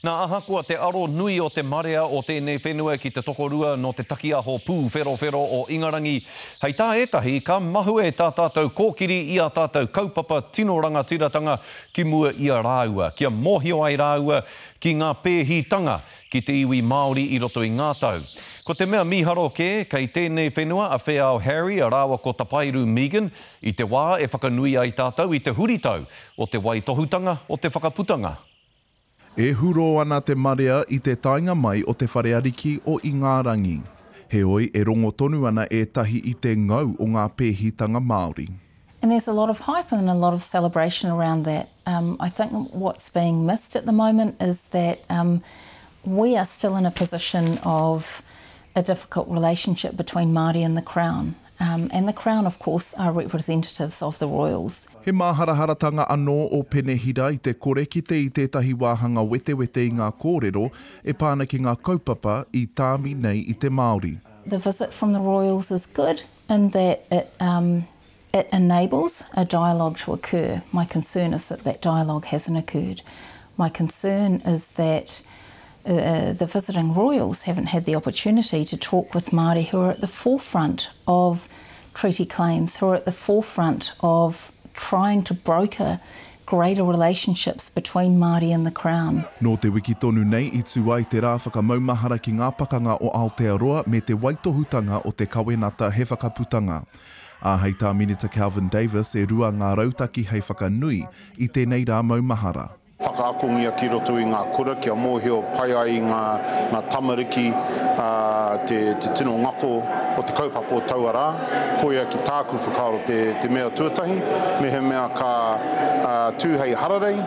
Nā, ahakoa te aro nui o te marea o tēnei whenua ki te tokorua nō te takiaho pūwherowhero o Ingarangi, hei tā ētahi, ka mahue tā tātou kōkiri i ā tātou kaupapa tino rangatiratanga ki mua i a rāua, kia mōhio ai rāua ki ngā pēhitanga ki te iwi Māori i roto i ngā tau. Ko te mea mīharo kē, kei tēnei whenua a Wheao Harry rāua ko Tapairu Megan i te wā e whakanui ai tātou i te huritau o te waitohutanga o te whakaputanga. E hurō ana te marea i te taenga mai o te whare ariki o Ingārangi. Heoi, e rongo tonu ana ētahi i te ngau o ngā pēhitanga Māori. And there's a lot of hype and a lot of celebration around that. Um, I think what's being missed at the moment is that um, we are still in a position of a difficult relationship between Māori and the Crown. And the Crown of course are representatives of the Royals. He māharaharatanga anō ō Penehira i te kore kite i tētahi wāhanga wetewete i ngā kōrero e pā ana ki ngā kaupapa i tāmi nei i te Māori. The visit from the Royals is good in that it it enables a dialogue to occur. My concern is that that dialogue hasn't occurred. My concern is that The visiting Royals haven't had the opportunity to talk with Māori who are at the forefront of treaty claims, who are at the forefront of trying to broker greater relationships between Māori and the Crown. Nō te wiki tonu nei i tū ai te rā whakamaumahara ki ngā pakanga o Aotearoa me te waitohutanga o te kawenata he whakaputanga. Ā, hei tā Minita Kelvin Davis e rua ngā rautaki hei whakanui i tēnei rā maumahara. Whakaakongia ki roto i ngā kura kia mōhio pai ai i ngā tamariki te tino ngako o te kaupapa o taua rā. Koia ki tāku whakaaro te mea tuatahi. Mehemea ka tū hei hararei,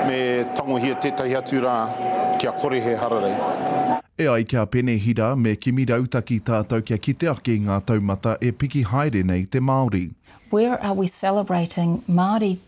me tangohia tētahi atu rā kia kore he hararei. E ai ki a Pene Hira me Kimi Rautaki tātou kia kite ake i ngā taumata e piki haere nei te Māori. Where are we celebrating Māori